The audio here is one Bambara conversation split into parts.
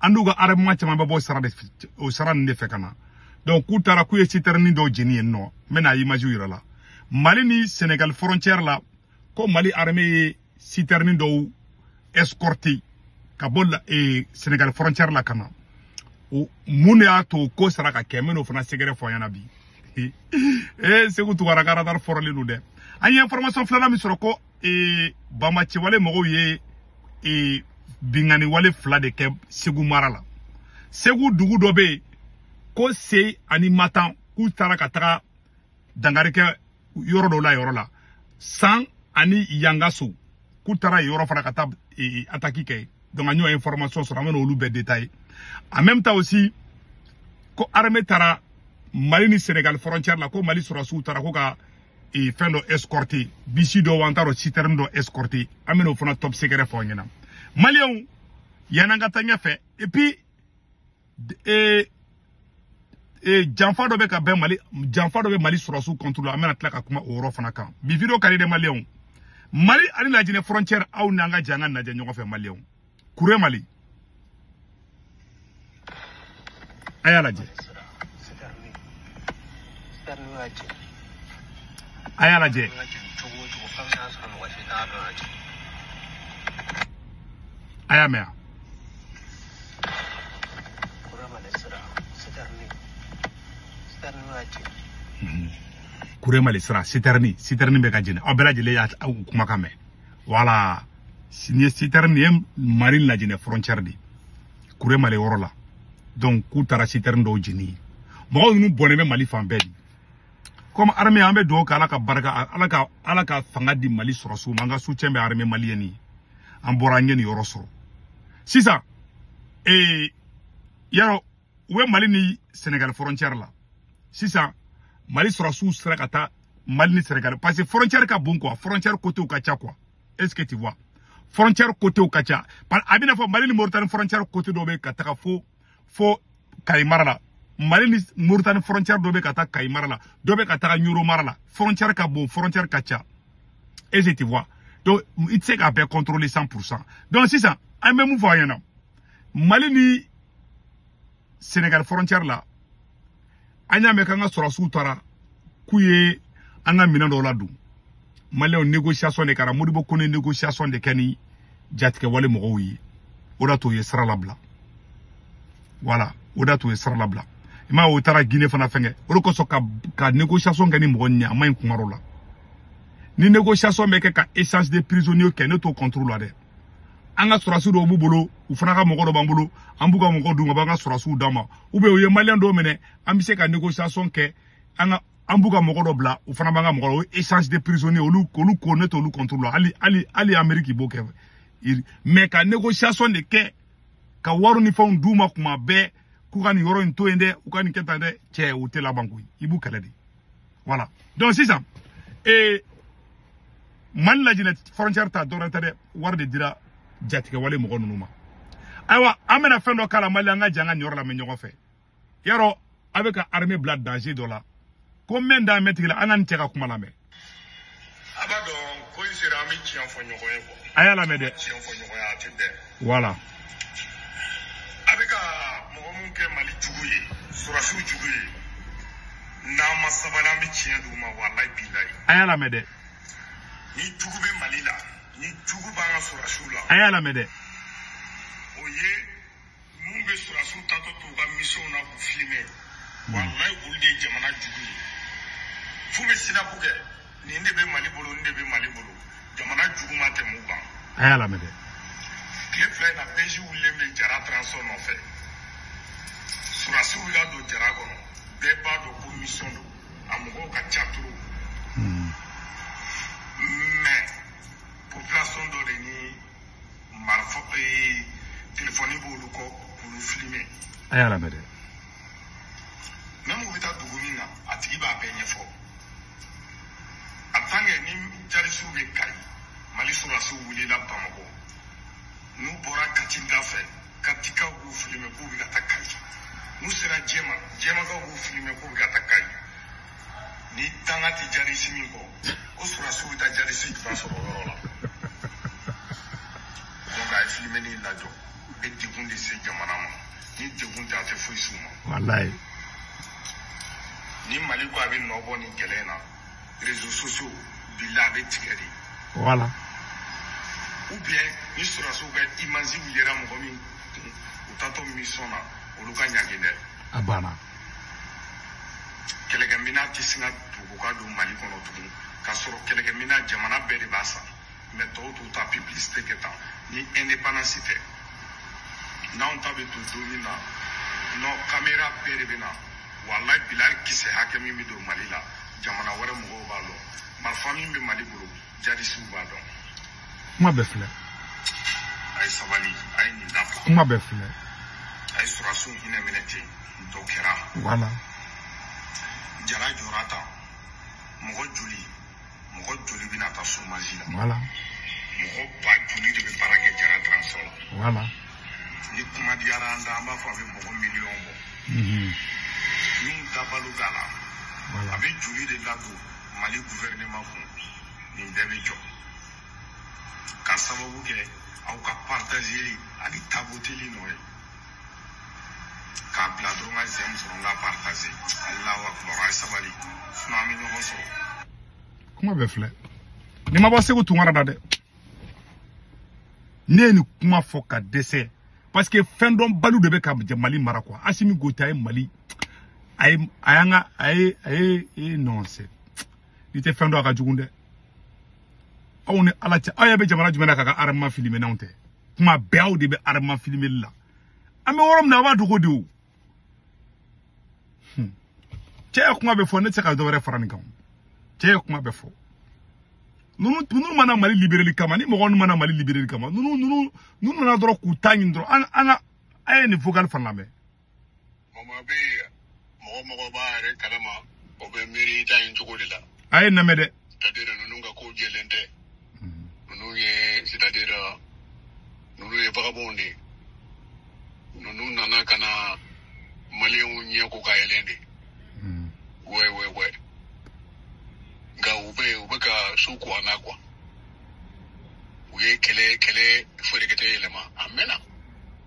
an n'u ka armement caman bɛ bɔ sira de o sira ninnu de fɛ ka na donc k'u taara k'u ye sitɛrini dɔw jeni yen nɔ n bɛna imajiw yir'a la mali ni senegal frontière la ko mali armée ye sitɛrini dɔw escorter ka bɔ la ee senegal frontière la ka na o mun de y'a to ko sera ka kɛ n bɛn'o fana secret fɔ aw ɲɛna bi ee segu tubarakaratar fɔrɔlen don dɛ an ye information filanan min sɔrɔ ko ee banbaanciwale mɔgɔw ye ee binkanniwale fila de kɛ segu mara la segu dugu dɔ bɛ yen ko se ani matan k'u taara ka taga dankari kɛ yɔrɔ dɔ la yɔrɔ la san ani yangaso k'u taara yɔrɔ fana ka taa ee ataki kɛ donc an y'o information sɔrɔ an bɛn'olu bɛɛ détailler en même temps aussi ko armée taara mali ni senegal frontière la ko mali sɔrɔsiw taara ko ka ee fɛn dɔ escorter bisi dɔ wa an t'a dɔn citerne dɔ escorter an bɛn'o fana top secret fɔ aw ɲɛna maliyɛnw yann'an ka taa ɲɛfɛ et puis ee ee janfa dɔ bɛ ka bɛn mali janfa dɔ bɛ mali sɔrɔsiw contre la an bɛna tila ka kuma o yɔrɔ fana kan bi video ka di dɛ maliyɛnw mali ani lajinɛ frontière aw n'an ka jɛ an k'a najɛ ɲɔgɔn fɛ maliyɛnw kuremali a y'a lajɛ a y'a lajɛ a y'a mɛn kuremali sira sitɛrini sitɛrini bɛ ka jeni aw bɛɛ lajɛlen y'a kumakan mɛn voilà nin ye sitɛrini ye mali lajinɛ frontière de kuremale yɔrɔ la donc k'u taara sitɛrini dɔw jeni yen mɔgɔw ninnu bɔnnen bɛ mali fan bɛɛ dɛ comme armée an bɛ dugawu kɛ ala ka barika ala ka ala ka fanga di mali sɔrɔsiw ma an ka soutien bɛ armée malienne ye an bɔra an ye nin yɔrɔ sɔrɔ sisan ee yarɔ u bɛ mali ni senegal frontière la sisan mali sɔrɔsiw sera ka taa mali ni senegal parce que frontière ka bon quoi frontière côtéw ka ca quoi est-ce que tu vois frontière côtéw ka ca a bɛn'a fɔ mali ni moritani frontière côté dɔ bɛ ka taga fo fo kayi mara la mali ni moritani frontière dɔ bɛ ka taa kayi mara la dɔ bɛ ka taga ɲoro mara la frontière ka bon frontière ka ca est-ce que tu vois donc i tɛ se k'a bɛɛ contrôler 100 pour cent donc sisan an bɛ mun fɔ a ɲɛna mali ni sénégal frontière la an y'a mɛn k'an ka sɔrɔsiw taara k'u ye an ka minɛn dɔw ladon maliyɛnw négociation de kɛra modibo kone négociation de kɛ ni jatigɛwale mɔgɔw ye o d'a to u ye sira labila voilà o d'a to u ye sira labila i m'a ye u taara gine fana fɛnkɛ o de kosɔn ka ka négociation kɛ ni mɔgɔ nin ye a man ɲi kuma dɔ la ni négociation bɛ kɛ ka échange de prisonniers kɛ ne t'o contre la dɛ an ka sɔrɔdasiw dɔw b'u bolo u fana ka mɔgɔ dɔ b'an bolo an b'u ka mɔgɔ d'u ma u b'an ka sɔrɔdasiw d'an ma u bɛ u ye maliyɛn dɔw minɛ an bɛ se ka négociation kɛ an ka an b'u ka mɔgɔ dɔ bila u fana b'an ka mɔgɔ o échange de prisonniers olu olu ko ne t'olu contrôle la hali hali hali Amérique b'o kɛ mais ka négociation de kɛ ka wari ni fɛnw d'u ma kuma bɛɛ k'u ka nin yɔrɔ in to yen dɛ u ka nin kɛ tan dɛ cɛ o tɛ laban koyi i b'u kɛlɛ de voilà donc sisan ee mali lajinɛ frontière ta dɔrɔn tɛ dɛ wari de dira jatigɛwale mɔgɔ ninnu ma ayiwa an bɛna fɛn dɔ k'a la mali an ka jɛn ka nin yɔrɔ lamɛn ɲɔgɔn fɛ yarɔ a bɛ ka armée bila danger dɔ la ko mɛn dan mɛn tigila an ka nin cɛ ka kuma lamɛn a b'a dɔn ko in sera an bɛ tiɲɛ fɔ ɲɔgɔn ye quoi a y'a lamɛn dɛ tiɲɛ fɔ ɲɔgɔn ye a tɛ bɛn voilà a bɛ ka mɔgɔ minnu kɛ mali jugu ye sɔrɔdasiw jugu ye n'an ma sabali an bɛ tiɲɛ d'u ma walayi bilayi a y'a lamɛn dɛ ni jugu bɛ mali la ni jugu b'an ka sɔrɔdasiw la a y'a lamɛn dɛ o ye minnu bɛ sɔrɔdasiw taatɔ to u ka misiyɔnw na k'u filime walayi olu de ye jamana jugu ye f'u bɛ snap kɛ nin de bɛ mali bolo nin de bɛ mali bolo jamana jugu ma tɛmɛ u kan a y'a lamɛn dɛ tile fila in na bɛji wulilen bɛ jara transport nɔfɛ sɔrɔdasiw ka don jara kɔnɔ bɛɛ b'a dɔn ko misiyɔn don a mɔgɔw ka ca trop mais population dɔ de ni marifa ee telefɔni b'olu kɔ k'olu filime a y'a lamɛn dɛ même u bɛ taa dugu min na a tigi b'a bɛɛ ɲɛfɔ a tankɛ ni jarisiw bɛ kayi mali sɔrɔdasiw wulila bamakɔ n'u bɔra kati da fɛ katikaw b'u filime k'u bɛ ka taa kayi n'u sera jɛma jɛmakaw b'u filime k'u bɛ ka taa kayi ni danga tɛ jarisi min kɔ ko sɔrɔdasiw bɛ taa jarisi jumɛn sɔrɔ o yɔrɔ la donc a ye filimeni in lajɔ u bɛ degun de se jamana ma ni degun tɛ a tɛ foyi s'u ma walayi ni mali ko a bɛ nɔ bɔ nin kɛlɛ in na réseaux sociaux bila a bɛ tigɛ de voilà ou bien ni sɔrɔdasiw ka image yera mɔgɔ min kun u taatɔ mission na olu ka ɲangi dɛ a banna kɛlɛkɛmina tɛ se ka dogo ka don mali kɔnɔ tugun k'a sɔrɔ kɛlɛkɛmina jamana bɛɛ de b'a san mais tɔw t'u ta publicité kɛ tan ni indépendance tɛ n'anw ta bɛ don don min na non kamera bɛɛ de bɛ na walayi bilayi kisɛ hakɛ min bɛ don mali la jamana wɛrɛ mɔgɔw b'a lɔn marifa min bɛ mali bolo jadisiw b'a dɔn kuma bɛɛ filɛ a ye sabali a ye nin dabila kuma bɛɛ filɛ a ye sɔrɔsiw hinɛ minɛ ten dɔ kɛra voilà jara jɔra tan mɔgɔ joli mɔgɔ joli bɛna taa chômage la voilà mɔgɔ ba joli de bɛ baara kɛ jara transport la voilà ni kuma diyara an da an b'a fɔ a bɛ mɔgɔ miliyɔn bɔ min dabalo da la a bɛ joli de ladon mali gouvernement kun nin bɛɛ bɛ jɔ ka sababu kɛ aw ka partageli ani tapoteli nɔ ye k'a bila dɔrɔn ka j'aime sɔrɔ n ka partage alahu akibaru a ye sabali sinon an bɛ ɲɔgɔn sɔrɔ kuma bɛɛ filɛ nin ma bɔ seku tunkara da dɛ ne ye nin kuma fɔ ka dɛsɛ parce que fɛn dɔnbaliw de bɛ ka mali mara quoi asimi goyita ye mali a ye a y'an ka a ye a ye e non c'est n'i tɛ fɛn dɔn a ka jugu dɛ aw ni ala cɛ aw yɛrɛ bɛ jamana jumɛn na k'a ka armement filmer n'anw tɛ kuma bɛɛ aw de bɛ armement filimeli la an bɛ yɔrɔ min na a b'a dogo de o cɛ ye kuma bɛɛ fɔ ne tɛ se ka dɔ wɛrɛ fara nin kan cɛ ye kuma bɛɛ fɔ ninnu ninnu ma na mali libereli kama ni mɔgɔ ninnu ma na mali libereli kama ninnu ninnu ninnu nana dɔrɔn k'u ta ɲini dɔrɔn an an ka a ye nin vocal fana lamɛn Mama bɛ mɔgɔ o mɔgɔ b'a yɛrɛ kalama o bɛ miiri i ta in cogo de la a ye n lamɛn dɛ c'est-à-dire ninnu ka ko jɛlen tɛ ninnu ye c'est-à-dire ninnu ye vagabonds de ye ninnu nana ka na maliyɛnw ɲɛ ko ka yɛlɛn de ouais ouais ouais nka u bɛ u bɛ ka su ko an na quoi u ye kɛlɛ kɛlɛ feerekɛtɛ yɛlɛma a mɛnna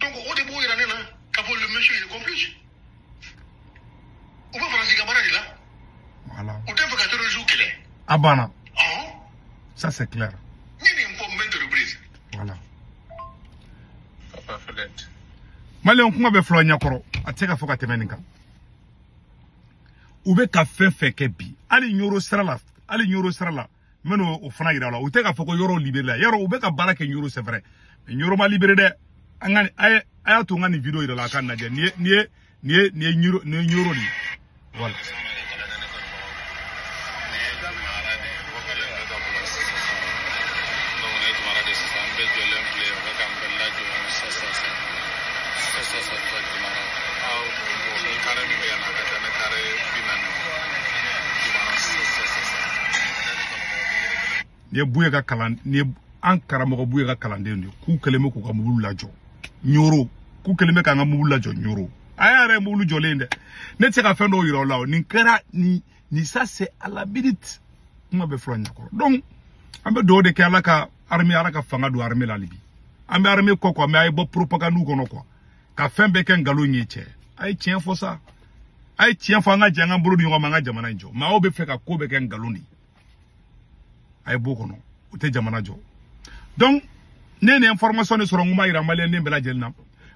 donc o de b'o yira ne na k'a fɔ le monsieur il est complice u bɛ faransi ka baara de la voilà u t'a fɛ ka terroristes kɛlɛ a banna ɔhɔn ça c'est clair n ye nin fɔ maintes reprises voilà papa Fɛlɛte maliyɛn kuma bɛɛ filɛ aw ɲɛkɔrɔ a tɛ se ka fɔ ka tɛmɛ nin kan u bɛ ka fɛn fɛn kɛ bi hali ɲoro sira la hali ɲoro sira la n bɛna o fana yira a la u tɛ k'a fɔ ko ɲoro liberela ɲoro u bɛ ka baara kɛ ɲoro c'est vrai ɲoro ma libere dɛ an ka a ye a y'a to n ka nin video yira a la a k'a lajɛ nin ye nin ye nin ye nin ye ɲoro nin ye ɲoro de ye voilà. Nin ye Buye ka kalan nin ye an karamɔgɔ Buye ka kalanden de ye k'u kɛlen bɛ k'u ka mobili lajɔ Ɲoro k'u kɛlen bɛ k'an ka mobili lajɔ Ɲoro a yɛrɛ ye mobili jɔlen ye dɛ ne tɛ se ka fɛn dɔw yira aw la o nin kɛra nin ni ça c'est à la minute kuma bɛ fɔ la ɲakɔrɔ donc an bɛ dugawu de kɛ ala ka armée ala ka fanga don armée la hali bi an bɛ armée kɔ quoi mais a ye bɔ propagande kɔnɔ quoi ka fɛn bɛɛ kɛ nkalon ye cɛ a ye tiɲɛ fɔ sa a ye tiɲɛ fɔ an ka jɛ an ka bolo di ɲɔgɔn ma an ka jamana in jɔ mais aw bɛ fɛ ka ko bɛɛ kɛ nkalon de ye a ye b'o kɔnɔ o tɛ jamana jɔ donc ne nin information de sɔrɔ n ko n b'a jira maliyɛn den bɛɛ lajɛlen na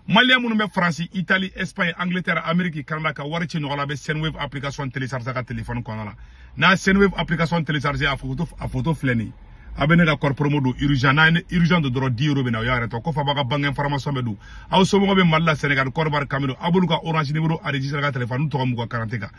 maliyɛn minnu bɛ faransi itali espagne angleterre ameriki canada ka wari ci ɲɔgɔn la a bɛ sendwave application télécharger ka telefɔni kɔnɔna la n'a sendwave application télécharger a photo a photo filɛ nin ye a bɛ ne ka code promo don urgent n'a ye ne urgent don dɔrɔn 10 euro bɛ na o y'a yɛrɛ ta o kɔfɛ a b'a ka banque information bɛɛ don aw somɔgɔw bɛ mali la senegal côte d'ivoire cameroun a b'olu ka orange numéro enregistrer ka telefɔni tɔgɔ m'u ka carte kan